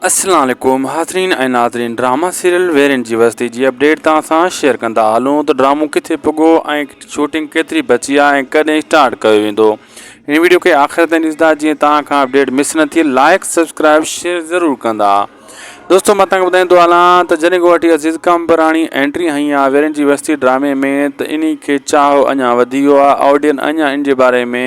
السلام عليڪم حاضرين ۽ ناظرين ڊراما سيريل ويرين جي وستي جي اپڊيٽ توهان سان شيئر ڪندا هلون ته ڊرامو ڪٿي پڳو ۽ شوٽنگ ڪيتري بچي آهي ۽ ڪڏهن اسٽارٽ ڪيو ويندو هن ويڊيو کي آخر تائين ڏسندا جيئن توهان کان اپڊيٽ مس نه ٿئي لائق سبسڪرائب شيئر ضرور ڪندا دوستو مان توهان کي ٻڌائيندو هلان ته جڏهن گوهاٽي عزيز ڪامبراڻي اينٽري هنئي آهي ويرين جي وستي ڊرامي ۾ ته انهي کي چاهو اڃا وڌي ويو آهي آڊين اڃا ان جي باري ۾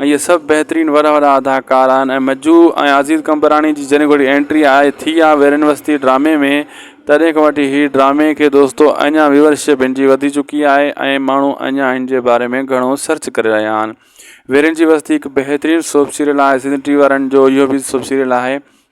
اهي سڀ بهترين وڏا وڏا اداڪار آهن ۽ مجو ۽ عزيز قمبراڻي جي جڏهن گهڙي انٽري آهي ٿي آهي ويرين وستي ڊرامي ۾ تڏهن کان وٺي هي ڊرامي کي دوستو اڃان ويورشپ هن جي وڌي چڪي آهي ۽ ماڻهو اڃان هن جي باري ۾ گهڻو سرچ ڪري رهيا آهن ويرين جي وستي هڪ بهترين سوپ سيريل آهي سنڌ ٽي وي وارن جو اهو به سوپ سيريل آهي